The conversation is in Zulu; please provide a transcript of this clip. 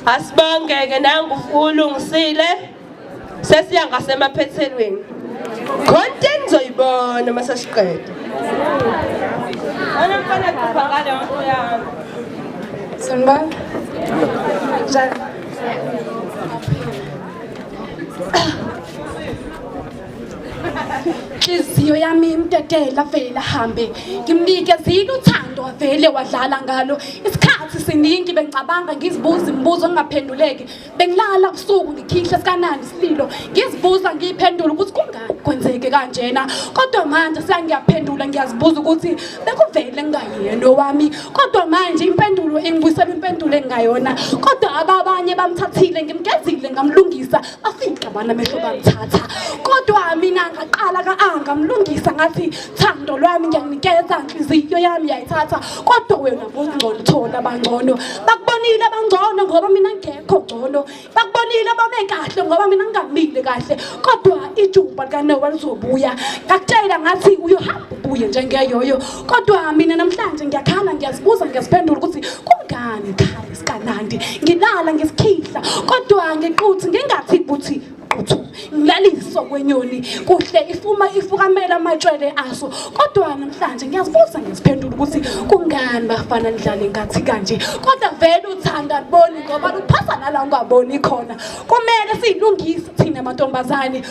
asibonge-ke nangu ulungisile sesiya ngasemaphethelweni khonto enizoyibona uma sesiqeda onomfana kupha ngale nto yami sanibona njani inhliziyo yami imtetela vele ahambe ngimnikezile uthando wavele wadlala ngalo isikhathi siningi bengicabanga ngizibuza imibuzo engingaphenduleki bengilala ubusuku ngikhihla sikanani isililo ngizibuza ngiyiphendula ukuthi kungani kwenzeke kanjena kodwa manje sengiyaphendula ngiyazibuza ukuthi bekuvele ngingayena owami kodwa manje impendulo engibuyisela impendulo engingayona kodwa ababanye bamthathile ngimgezile ngamlungisa afingqabana amehlo bamthatha kodwa mina ngaqala ka-anga mlungisa ngathi thando lwami ngiyakunikeza nhliziyo yami yayithatha kodwa wena bongcono thona bangcono bakubonile abangcono ngoba mina ngekho ngcono bakubonile babe kahle ngoba mina ngingamile kahle kodwa ijuba likanowa lizobuya ngakutshela ngathi uyohamba ubuye njengeyoyo kodwa mina namhlanje ngiyakhala ngiyazibuza ngiyaziphendula ukuthi kungani khaya kanandi ngilala ngesikhihla kodwa ngiquthi ngingathi kuthi quthu ngilaliso kwenyoni kuhle ifuma ifukamela amatshwele aso kodwa namhlanje ngiyazibuza ngiziphendula ukuthi kungani bafana nidlale ngathi kanje kodwa vele uthanda boni ngoba luphatha nala ungaboni khona kumele silungise thina mantombazane